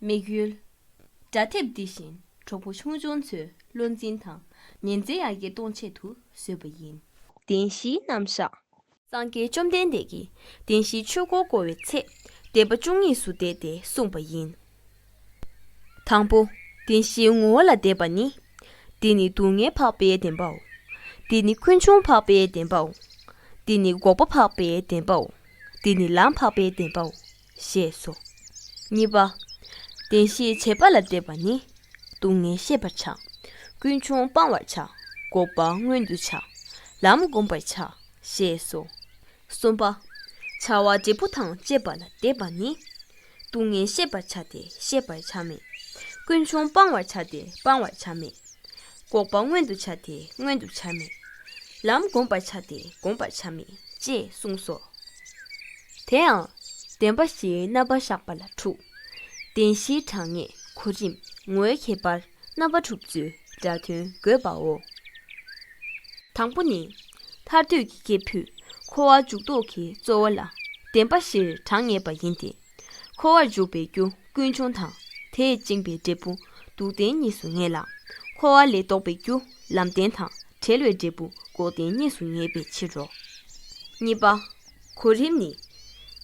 དམིགས་ཡུལ། དགྲ་ཐེབས་འདི་བཞིན་གྲོགས་པོ་ཆུང་ཆུང་ཚོའི་བློ་འཛིན་དང་ཉེན་ཚེ་ཡར་རྒྱས་གཏོང་ཆེད་དུ་བཟོས་པ་ཡིན། བདེན་བཞིའི་རྣམ་གཞག། སངས་རྒྱས་བཅོམ་ལྡན་འདས་ཀྱིས་བདེན་བཞིའི་ཆོས་འཁོར་བསྐོར་བའི་ཚེ་བཟླས་པ་བཅུ་གཉིས་སུ་བཟླས་ཏེ་གསུངས་པ་ཡིན། དང་པོ། བདེན་བཞིའི་ངོ་བོ་ལ་བཟླས་པ་ནི། འདི་ནི་སྡུག་བསྔལ་འཕགས་པའི་བདེན་པའོ། འདི་ནི་ཀུན་འབྱུང་འཕགས་པའི་བདེན་པའོ། འདི་ནི་འགོག་པ་འཕགས་པའི་བདེན་པའོ། འདི་ནི་ལམ་འཕགས་པའི་བདེན་པའོ། ཞེས་སོ། གཉིས་པ། བདེན་བཞིའི་བྱེད་པ་ལ་བཟླས་པ་ནི། སྡུག་བསྔལ་ཤེས་པར་བྱ། ཀུན་འབྱུང་སྤང་བར་བྱ། འགོག་པ་མངོན་དུ་བྱ། ལམ་བསྒོམ་པར་བྱ། ཞེས་སོ། གསུམ་པ། བྱ་བ་འབྲས་བུ་དང་བཅས་པ་ལ་བཟླས་པ་ནི། སྡུག་བསྔལ་ཤེས་པར་བྱ་སྟེ་ཤེས་པར་བྱར་མེད། ཀུན་འབྱུང་སྤང་བར་བྱ་སྟེ་སྤང་བར་བྱར་མེད། འགོག་པ་མངོན་དུ་བྱ་སྟེ་མངོན་དུ་བྱར་མེད། ལམ་བསྒོམ་པར་བྱ་སྟེ་བསྒོམ་པར་བྱར་མེད་ཅེས་གསུངས་སོ། དེའང་བདེན་པ་བཞིའི་རྣམ་པར་གཞག་པ་ལ་དྲུག། བདེན་བཞིའི་གྲངས་ངེས་གོ་རིམ་ངོའི་ཁྱད་པར། རྣམ་པ་དྲུག་བཅུའི་སྒྲ་དོན་དགོད་པའོ། དང་པོ་ནི། ཐར་འདོད་ཀྱི་སྐྱེས་བུས་འཁོར་བར་འཇུག་ལྡོག་གི་རྩོལ་བ་ལ་བདེན་པ་བཞིར་གྲངས་ངེས་པ་ཡིན་ཏེ། འཁོར་བར་འཇུག་པའི་རྒྱུ་ཀུན་འབྱུང་དང་དེས་བཅིངས་པའི་འབྲས་བུ་སྡུག་བདེན་གཉིས་སུ་ངེས་ལ། འཁོར་བ་ལས་ལྡོག་པའི་རྒྱུ་ལམ་བདེན་དང་བྲལ་བའི་འབྲས་བུ་འགོག་བདེན་གཉིས་སུ་ངེས་པའི་ཕྱིར་རོ། གཉིས་པ། གོ་རིམ་ནི།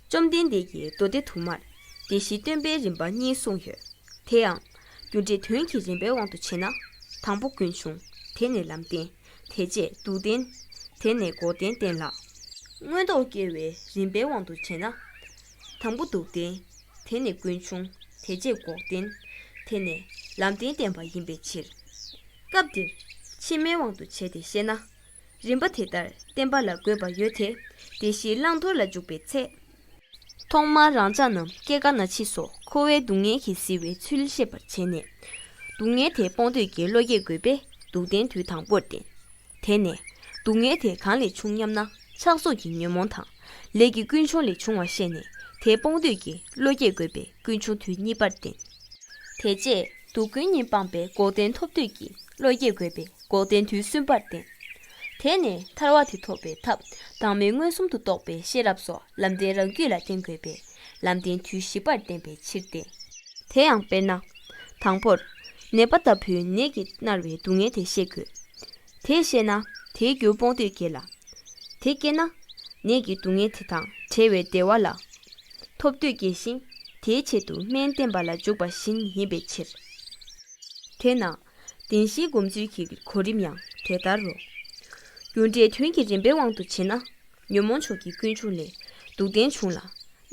བཅོམ་ལྡན་འདས་ཀྱིས་མདོ་སྡེ་དུ་མར་སྡེ་བཞིའི་སྟོན་པའི་རིམ་པ་གཉིས་གསུངས་ཡོད་དེ། ཡང་རྒྱུ་འབྲས་དོན་གྱི་རིམ་པའི་དབང་དུ་བྱས་ན། དང་པོ་ཀུན་འབྱུང། དེ་ནས་ལམ་བསྟན། དེ་རྗེས་སྡུག་བསྟན། དེ་ནས་འགོག་བདེན་བསྟན་ལ། མངོན་རྟོགས་སྐྱེ་བའི་རིམ་པའི་དབང་དུ་བྱས་ན། དང་པོ་སྡུག་བསྟན། དེ་ནས་ཀུན་འབྱུང། དེ་རྗེས་འགོག་བདེན། དེ་ནས་ལམ་བསྟན་བསྟན་པ་ཡིན་པའི་ཕྱིར། སྐབས་འདིར་ཕྱི་མའི་དབང་དུ་བྱས་ཏེ་བཤད་ན། རིམ་པ་དེ་ལྟར་བསྟན་པ་ལ་དགོས་པ་ཡོད་དེ། དེ་བཞིའི་བླང་དོར་ལ་འཇུག་པའི་ཚེ། ཐོག་མར་རང་ཅག་རྣམས་སྐྱེ་རྒ་ན་འཆིས་སོགས་འཁོར་བའི་སྡུག་བསྔལ་གྱིས་བཟི་བའི་ཚུལ་ཤེས་པར་བྱས་ནས། སྡུག་བསྔལ་དེ་སྤོང་འདོད་ཀྱི་བློ་སྐྱེ་དགོས་པས་སྡུག་བདེན་དུས་དང་པོར་བསྟེན། དེ་ནས། སྡུག་བསྔལ་དེ་གང་ལས་བྱུང་སྙམ་ན་ཆགས་སོགས་ཀྱི་ཉོན་མོངས་དང། ལས་ཀྱི་ཀུན་འབྱུང་ལས་བྱུང་བ་ཤེས་ནས་དེ་སྤོང་འདོད་ཀྱི་བློ་སྐྱེ་དགོས་པས་ཀུན་འབྱུང་དུས་གཉིས་པར་བསྟེན། དེ་རྗེས་སྡུག་ཀུན་ཉིད་སྤངས་པས་འགོག་བདེན་ཐོབ་འདོད་ཀྱི་བློ་སྐྱེ་དགོས་པས་འགོག་བདེན་དུས་གསུམ་པར་བསྟེན། དེས་ནི་ཐར་བ་དེ་ཐོབ་པའི་ཐབས་དྭངས་མའི་མངོན་སུམ་དུ་རྟོགས་པའི་ཤེས་རབ་སོགས་ལམ་བདེན་རང་རྒྱུད་ལ་བརྟེན་དགོས་པས་ལམ་བདེན་དུས་བཞི་པར་བསྟན་པའི་ཕྱིར་ཏེ། དེ་ཡང་དཔེར་ན། དང་པོར། ནད་པ་ལྟ་བུའི་ནད་ཀྱིས་མནར་བའི་སྡུག་བསྔལ་དེ་ཤེས་དགོས། དེས་ཤེས་ན་དེའི་རྒྱུར་སྤོང་འདོད་སྐྱེ་ལ། དེ་སྐྱེས་ན། ནད་ཀྱི་སྡུག་བསྔལ་དེ་དང་བྲལ་བའི་བདེ་བ་ལ། ཐོབ་འདོད་སྐྱེ་ཞིང་དེའི་ཆེད་དུ་སྨན་བསྟེན་པ་ལ་འཇུག་པ་བཞིན་ཡིན་པའི་ཕྱིར། དེས་ན། བདེན་བཞིའི་བསྒོམ་ཚུལ་གྱི་གོ་རིམ་ཡང་དེ་ལྟར་རོ། རྒྱུ་འབྲས་དོན་གྱི་རིམ་པའི་དབང་དུ་བྱས་ན། ཉོན་མོངས་ཕྱོགས་ཀྱི་ཀུན་འབྱུང་ལས་སྡུག་བདེན་འབྱུང་ལ།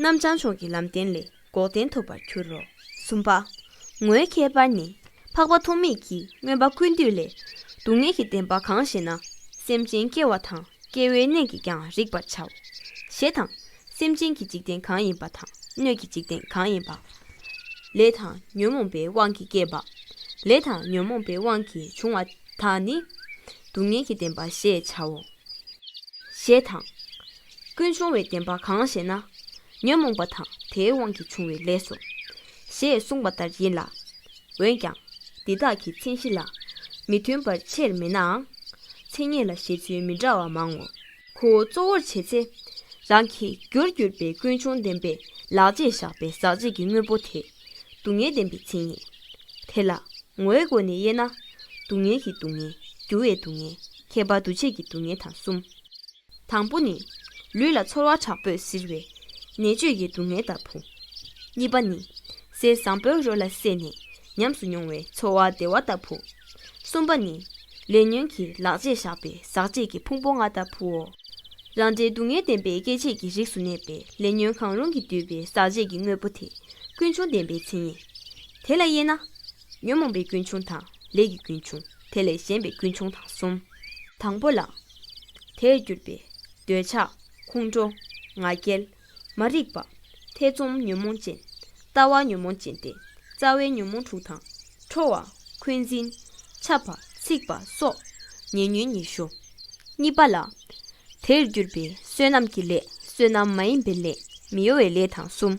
རྣམ་བྱང་ཕྱོགས་ཀྱི་ལམ་བདེན་ལས་འགོག་བདེན་ཐོབ་པར་འགྱུར་རོ། གསུམ་པ། ངོའི་ཁྱད་པར་ནི། འཕགས་པ་ཐོགས་མེད་ཀྱིས་མངོན་པ་ཀུན་བཏུས་ལས། སྡུག་བསྔལ་གྱི་བདེན་པ་གང་ཞེ་ན། སེམས་ཅན་སྐྱེ་བ་དང་སྐྱེ་བོའི་གནས་ཀྱིས་ཀྱང་རིག་པར་བྱའོ། ཞེས་དང། སེམས་ཅན་གྱི་འཇིག་རྟེན་གང་ཡིན་པ་དང་སྣོད་ཀྱི་འཇིག་རྟེན་གང་ཡིན་པ། ལས་དང་ཉོན་མོངས་པའི་དབང་གིས་སྐྱེས་པ། ལས་དང་ཉོན་མོངས་པའི་དབང་གིས་བྱུང་བ་དག་ནི། སྡུག་བསྔལ་གྱི་བདེན་པ་ཞེས་བྱའོ། ཞེས་དང། ཀུན་འབྱུང་བའི་བདེན་པ་གང་ཞེ་ན། ཉོན་མོངས་པ་དང་དེའི་དབང་གིས་བྱུང་བའི་ལས་སོ། ཞེས་གསུངས་པ་ལྟར་ཡིན་ལ། འོན་ཀྱང་འདི་དག་གི་མཚན་གཞི་ལ་མི་མཐུན་པར་ཆེར་མེད་ནའང། མཚན་ཉིད་ལ་བཞེད་ཚུལ་མི་འདྲ་བ་མང་ངོ། ཁུ་བོ་གཙོ་བོར་བྱེད་ཚེ། རང་གི་རྒྱུར་གྱུར་པའི་ཀུན་འབྱུང་ལྡན་པའི་ལག་རྗེས་བཞག་པའི་ཟག་བཅས་ཀྱི་དངོས་པོ་དེ་སྡུག་བསྔལ་བདེན་པའི་མཚན་ཉིད། དེ་ལ་ངོའི་སྒོ་ནས་དབྱེ་ན། སྡུག་བསྔལ་གྱི་སྡུག་བསྔལ། འགྱུར་བའི་སྡུག་བསྔལ། ཁྱད་པར་འདུ་བྱེད་ཀྱི་སྡུག་བསྔལ་དང་གསུམ། དང་པོ་ནི། ལུས་ལ་ཚོར་བ་དྲག་པོས་གཟིར་བའི་ནད་བཅོས་ཀྱི་སྡུག་བསྔལ་ལྟ་བུ། གཉིས་པ་ནི། ཟས་བཟང་པོའི་རོ་ལ་བསྲེས་ནས་ཉམས་སུ་མྱོང་བའི་ཚོར་བ་བདེ་བ་ལྟ་བུ། གསུམ་པ་ནི། ལས་ཉོན་གྱིས་ལག་རྗེས་བཞག་པའི་ཟག་བཅས་ཀྱི་ཕུང་པོ་ལྔ་ལྟ་བུའོ། རང་འདྲའི་སྡུག་བསྔལ་བདེན་པའི་སྐྱེ་མཆེད་ཀྱི་རིགས་སུ་གནས་པའི་ལས་ཉོན་གང་རུང་གིས་བསྡུས་པའི་ཟག་བཅས་ཀྱི་དངོས་པོ་དེ་ཀུན་འབྱུང་བདེན་པའི་མཚན་ཉིད། དེ་ལ་དབྱེ་ན། ཉོན་མོངས་པའི་ཀུན་འབྱུང་དང་ལས་ཀྱི་ཀུན་འབྱུང་དེ་ལས་གཞན་པའི་ཀུན་འབྱུང་དང་གསུམ། དང་པོ་ལ། དེས་གྱུར་པའི་འདོད་ཆགས་ཁོང་ཁྲོ་ང་རྒྱལ། མ་རིག་པ། ཐེ་ཚོམ་ཉོན་མོངས་ཅན། ལྟ་བ་ཉོན་མོངས་ཅན་ཏེ་རྩ་བའི་ཉོན་མོངས་དྲུག་དང། ཁྲོ་བ། འཁོན་འཛིན། འཆབ་པ། འཚིག་པ་སོགས་ཉེ་ཉོན་ཉི་ཤུ། གཉིས་པ་ལ། དེར་གྱུར་པའི་བསོད་ནམས་ཀྱི་ལས་བསོད་ནམས་མ་ཡིན་པའི་ལས་མི་གཡོ་བའི་ལས་དང་གསུམ།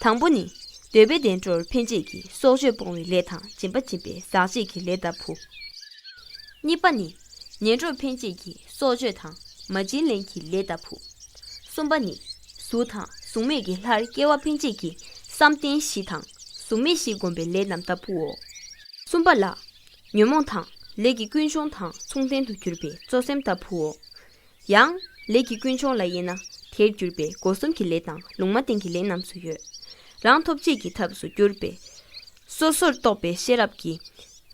དང་པོ་ནི། འདོད་པའི་བདེ་འགྲོར་འཕེན་བྱེད་ཀྱི་སྲོག་གཅོད་སྤོང་བའི་ལས་དང་སྦྱིན་པ་སྦྱིན་པའི་ཟག་བྱེད་ཀྱི་ལས་ལྟ་བུ། གཉིས་པ་ནི། ངན་འགྲོར་འཕེན་བྱེད་ཀྱི་སྲོག་གཅོད་དང་མ་བྱིན་ལེན་གྱི་ལས་ལྟ་བུ། གསུམ་པ་ནི། གཟུགས་དང་གཟུགས་མེད་ཀྱི་ལྷར་སྐྱེ་བ་འཕེན་བྱེད་ཀྱི་བསམ་གཏན་བཞི་དང་གཟུགས་མེད་བཞི་བསྒོམ་པའི་ལས་རྣམས་ལྟ་བུའོ། གསུམ་པ་ལ། ཉོན་མོངས་དང་ལས་ཀྱི་ཀུན་འབྱུང་དང་མཚུངས་ལྡན་དུ་གྱུར་པའི་གཙོ་སེམས་ལྟ་བུའོ། ཡང། ལས་ཀྱི་ཀུན་འབྱུང་ལ་དབྱེ་ན་དེར་གྱུར་པའི་སྒོ་གསུམ་གྱི་ལས་དང་ལུང་མ་བསྟན་གྱི་ལས་རྣམས་སུ་ཡོད། རང་ཐོབ་བྱེད་ཀྱི་ཐབས་སུ་གྱུར་པའི། སོ་སོར་རྟོག་པའི་ཤེས་རབ་ཀྱིས།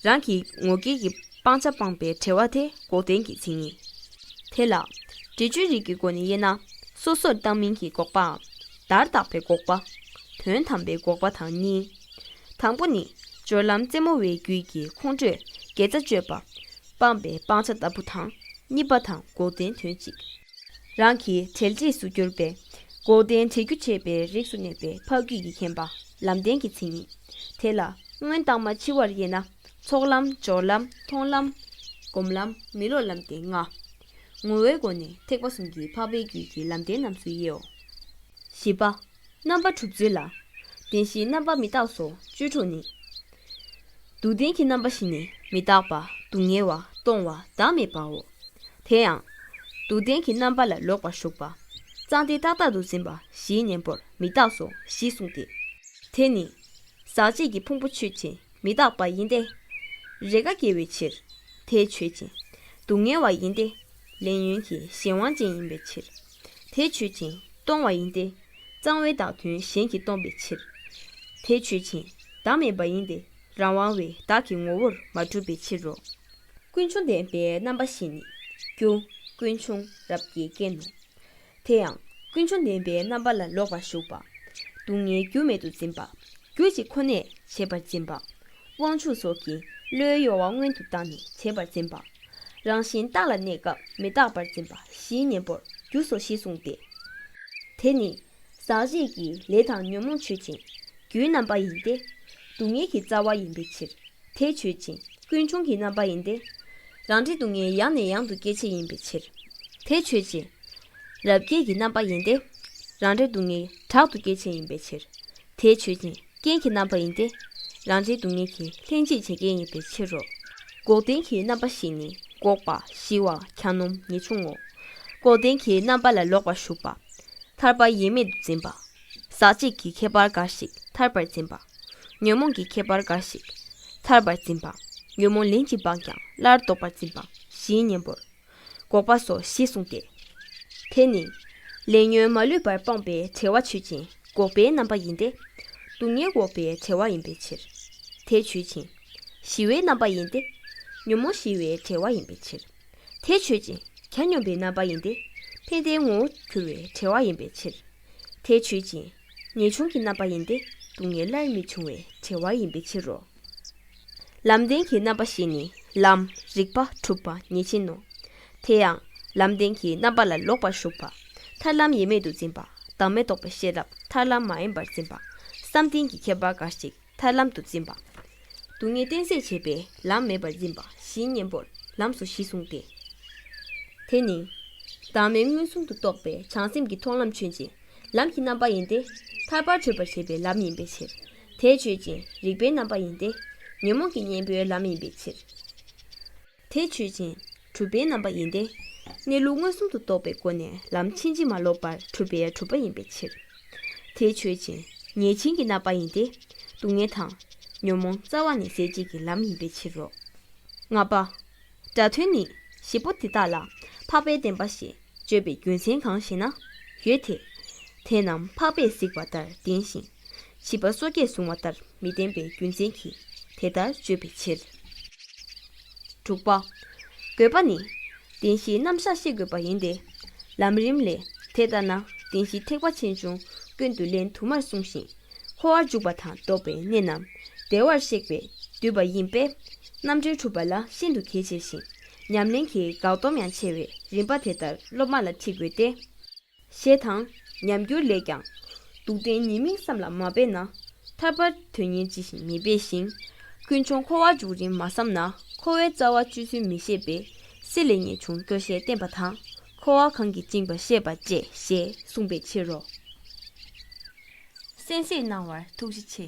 རང་གི་ངོ་སྐལ་གྱི་སྤང་བྱ་སྤངས་པའི་བྲལ་བ་དེ་འགོག་བདེན་གྱི་མཚན་ཉིད། དེ་ལ། འབྲས་ཆོས་རིག་གི་སྒོ་ནས་དབྱེ་ན། སོ་སོར་བརྟགས་མིན་གྱི་འགོག་པའམ། བརྡར་བརྟགས་པའི་འགོག་པ། དོན་དམ་པའི་འགོག་པ་དང་གཉིས། དང་པོ་ནི། སྦྱོར་ལམ་རྩེ་མོ་བའི་རྒྱུད་ཀྱི་ཁོང་ཁྲོས་དགེ་རྩ་གཅོད་པ། སྤངས་པའི་སྤང་བྱ་ལྟ་བུ་དང། གཉིས་པ་དང་འགོག་བདེན་དོན་གཅིག། རང་གི་བྲལ་འབྲས་སུ་གྱུར་པས། འགོག་བདེན་བྲལ་རྒྱུ་བྱེད་པའི་རིགས་སུ་གནས་པའི་འཕགས་རྒྱུད་ཀྱི་མཁྱེན་པ། ལམ་བདེན་གྱི་མཚན་ཉིད། དེ་ལ། སྔོན་བརྟགས་མ་ཕྱི་བར་དབྱེ་ན། ཚོགས་ལམ། སྦྱོར་ལམ། མཐོང་ལམ། སྒོམ་ལམ། མི་སློབ་ལམ་སྟེ་ལྔ། ངོ་བོའི་སྒོ་ནས་ཐེག་པ་གསུམ་གྱི་འཕགས་པའི་རྒྱུད་ཀྱི་ལམ་བདེན་རྣམས་སུ་དབྱེའོ། བཞི་པ། རྣམ་པ་དྲུག་ཅུ་ལ། བདེན་བཞིའི་རྣམ་པ་མི་རྟག་སོ་བཅུ་དྲུག་ནི། སྡུག་བདེན་གྱི་རྣམ་པ་ཞི་ནས་མི་རྟག་པ་སྡུག་བསྔལ་བ་སྟོང་བ་བདག་མེད་པའོ། དེ་ཡང། སྡུག་བདེན་གྱི་རྣམ་པ་ལ་ལོག་པར་ཞུགས་པ། གཙང་སྟེ་རྟག་རྟག་ཏུ་འཛིན་པ་བཞིའི་གཉེན་པོར་མི་རྟག་སོ་ཞེས་གསུངས་ཏེ། དེ་ནི། ཟག་བཅས་ཀྱི་ཕུང་པོ་ཆོས་ཅན་མི་རྟག་པ་ཡིན་ཏེ། རེས་འགའ་སྐྱེ་བའི་ཕྱིར། དེ་ཆོས་ཅན། སྡུག་བསྔལ་བ་ཡིན་ཏེ། ལས་ཉོན་གྱི་གཞན་དབང་ཅན་ཡིན་པའི་ཕྱིར། དེས་ཆོད་ཅིང་སྟོང་བ་ཡིན་ཏེ། གཙང་བའི་བདག་དོན་གཞན་གྱིས་སྟོང་པའི་ཕྱིར། དེས་ཆོད་ཅིང་བདག་མེད་པ་ཡིན་ཏེ། རང་དབང་བའི་བདག་གི་ངོ་བོར་མ་གྲུབ་པའི་ཕྱིར་རོ། ཀུན་འབྱུང་བདེན་པའི་རྣམ་པ་བཞིན་ནི། རྒྱུ་ཀུན་འབྱུང་རབ་དགའི་རྐྱེན་ནོ། དེ་ཡང་ཀུན་འབྱུང་བདེན་པའི་རྣམ་པ་ལ་ལོག་པར་ཞུགས་པ། སྡུག་བསྔལ་རྒྱུ་མེད་དུ་འཛིན་པ། རྒྱུ་གཅིག་ཁོ་ནས་བྱེད་པར་འཛིན་པ། དབང་ཕྱུག་སོགས་ཀྱིས་བློའི་གཡོ་བ་སྔོན་དུ་བཏང་ནས་བྱེད་པར་འཛིན་པ། རང་བཞིན་རྟག་ལ་གནས་སྐབས་མི་རྟག་པར་འཛིན་པ་བཞིའི་གཉེན་པོར་རྒྱུ་སོ་ཞེས་གསུངས་ཏེ། དེ་ནི། ཟག་བཅས་ཀྱི་ལས་དང་ཉོན་མོངས་ཆོས་ཅན། རྒྱུའི་རྣམ་པ་ཡིན་ཏེ། སྡུག་བསྔལ་གྱི་རྩ་བ་ཡིན་པའི་ཕྱིར། དེ་ཆོས་ཅན་ཀུན་འབྱུང་གི་རྣམ་པ་ཡིན་ཏེ། རང་འབྲས་སྡུག་བསྔལ་ཡང་ནས་ཡང་དུ་སྐྱེད་བྱེད་ཡིན་པའི་ཕྱིར། དེ་ཆོས་ཅན། རབ་དགེ་གྱི་རྣམ་པ་ཡིན་ཏེ། རང་འབྲས་སྡུག་བསྔལ་དྲག་ཏུ་སྐྱེད་བྱེད་ཡིན་པའི་ཕྱིར། དེས་ཆོས་ཅན་རྐྱེན་གྱི་རྣམ་པ་ཡིན་ཏེ། རང་འབྲས་སྡུག་བསྔལ་གྱི་ལྷན་ཅིག་བྱེད་རྐྱེན་ཡིན་པའི་ཕྱིར་རོ། འགོག་བདེན་གྱི་རྣམ་པ་བཞི་ནི་འགོག་པ་ཞི་བ་གྱ་ནོམ་ངེས་འབྱུང་ངོ། འགོག་བདེན་གྱི་རྣམ་པ་ལ་ལོག་པར་ཞུགས་པ། ཐར་པ་ཡེངས་མེད་དུ་འཛིན་པ། ཟག་བཅས་ཀྱི་ཁྱད་པར་འགའ་ཞིག་ཐར་པར་འཛིན་པ། ཉོན་མོངས་ཀྱི་ཁྱད་པར་འགའ་ཞིག་ཐར་པར་འཛིན་པ། ཉོན་མོངས་ལན་ཅིག་སྤངས་ཀྱང་སླར་ལྡོག་པར་འཛིན་པ་བཞིའི་གཉེན་པོར། འགོག་པ་སོ་ཞེས་གསུངས་ཏེ། དེ་ནི། ལས་ཉོན་མ་ལུས་པར་སྤངས་པའི་བྲལ་བ་ཆོས་ཅན་འགོག་པའི་རྣམ་པ་ཡིན་ཏེ། སྡུག་བསྔལ་འགོག་པའི་བྲལ་བ་ཡིན་པའི་ཕྱིར། དེ་ཆོས་ཅན། ཞི་བའི་རྣམ་པ་ཡིན་ཏེ། ཉོན་མོངས་ཞི་བའི་བྲལ་བ་ཡིན་པའི་ཕྱིར། དེ་ཆོས་ཅན། གྱ་ནོམ་པའི་རྣམ་པ་ཡིན་ཏེ། ཕན་བདེའི་ངོ་བོ་གྱུར་བའི་བྲལ་བ་ཡིན་པའི་ཕྱིར། དེ་ཆོས་ཅན། ངེས་འབྱུང་གི་རྣམ་པ་ཡིན་ཏེ་སྡུག་བསྔལ་སླར་མི་འབྱུང་བའི་བྲལ་བ་ཡིན་པའི་ཕྱིར་རོ། ལམ་བདེན་གྱི་རྣམ་པ་ཞེས་ནི་ལམ་རིག་པ་གྲུབ་པ་ཉིད་ཅན་ནོ། དེ་ཡང་ལམ་བདེན་གྱི་རྣམ་པ་ལ་ལོག་པར་ཞུགས་པ། ཐར་ལམ་ཡེ་མེད་དུ་འཛིན་པ་བདག་མེད་རྟོགས་པའི་ཤེས་རབ་ཐར་ལམ་མ་ཡིན་པར་འཛིན་པ། བསམ་གཏན་གྱི་ཁྱད་པར་འགའ་ཞིག་ཐར་ལམ་དུ་འཛིན་པ། སྡུག་བསྔལ་གཏན་ཟད་བྱེད་པའི་ལམ་མེད་པར་འཛིན་པ་བཞིའི་གཉེན་པོར་ལམ་སོ་བཞི་གསུངས་ཏེ། དེ་ནི། བདག་མེད་མངོན་སུམ་དུ་རྟོགས་པའི་བྱང་སེམས་ཀྱི་མཐོང་ལམ་ཆོས་ཅན། ལམ་གྱི་རྣམ་པ་ཡིན་ཏེ། ཐར་པར་བྱོས་པར་བྱེད་པའི་ལམ་ཡིན་པའི་ཕྱིར། དེ་ཆོས་ཅན་རིག་པའི་རྣམ་པ་ཡིན་ཏེ། ཉོན་མོངས་ཀྱི་གཉེན་པོའི་ལམ་ཡིན་པའི་ཕྱིར། དེས་ཆོས་ཅན། གྲུབ་པའི་རྣམ་པ་ཡིན་ཏེ། གནས་ལུགས་མངོན་སུམ་དུ་རྟོགས་པའི་སྒོ་ནས་ལམ་ཕྱིན་ཅི་མ་ལོག་པར་གྲུབ་པས་གྲུབ་པ་ཡིན་པའི་ཕྱིར། དེས་ཆོས་ཅན། ཉེས་བྱིན་གྱི་རྣམ་པ་ཡིན་ཏེ། སྡུག་བསྔལ་དང། ཉོན་མོངས་རྩ་བ་ནས་ཟད་བྱེད་ཀྱི་ལམ་ཡིན་པའི་ཕྱིར་རོ། ལྔ་པ། སྒྲ་དོན་ནི། བཞི་པོ་འདི་དག་ལ། འཕགས་པའི་བདེན་པ་ཞེས། བརྗོད་པའི་རྒྱུ་མཚན་གང་ཞེ་ན། ཡོད་དེ། དེ་རྣམས་འཕགས་པས་གཟིགས་པ་ལྟར་བདེན་ཞིང། བྱིས་པ་སོ་སྐྱེས་བཟུང་བ་ལྟར་མི་བདེན་པའི་རྒྱུ་མཚན་གྱིས་དེ་ལྟར་བརྗོད་པའི་ཕྱིར། དྲུག་པ། དགོས་པ་ནི། བདེན་བཞིའི་རྣམ་གཞག་ཤེས་དགོས་པ་ཡིན་ཏེ། ལམ་རིམ་ལས། དེ་ལྟར་ན་བདེན་བཞིའི་ཐེག་པ་ཆེན་ཆུང་ཀུན་ཏུ་ལན་དུ་མར་གསུངས་ཤིང། འཁོར་བར་འཇུག་པ་དང་ལྡོག་པའི་གནས་རྣམས་བདེ་བར་གཤེགས་པས་བསྡུས་པ་ཡིན་པས། རྣམ་གྲོལ་གྲུབ་པ་ལ་ཤིན་ཏུ་གལ་ཆེ་ཞིང་ཉམས་ལེན་གྱི་འགག་སྡོམ་ཡང་ཆེ་བས་རིམ་པ་དེ་ལྟར་སློབ་མ་ལ་ཁྲིད་དགོས་ཏེ། ཞེས་དང། ཉམས་འགྱུར་ལས་ཀྱང། སྡུག་བདེན་གཉིས་མིང་བསམ་ལ་མ་འབད་ན། ཐར་པར་དོན་གཉེར་ཅི་བཞིན་མི་འབད་ཞིང། ཀུན་འབྱུང་འཁོར་བ་འཇུག་རིམ་མ་བསམ་ན་འཁོར་བའི་རྩ་བ་བཅུད་ཚུལ་མི་ཤེས་པས་སྲིད་ལས་ངེས་འབྱུང་སྐྱོ་ཤས་བསྟེན་པ་དང་འཁོར་བ་གང་གིས་བཅིངས་པ་ཤེས་པ་བཅས་ཞེས་གསུངས་པའི་ཕྱིར་རོ། གསན་བསྲེག་གནང་བར་ཐུགས་རྗེ་ཆེ།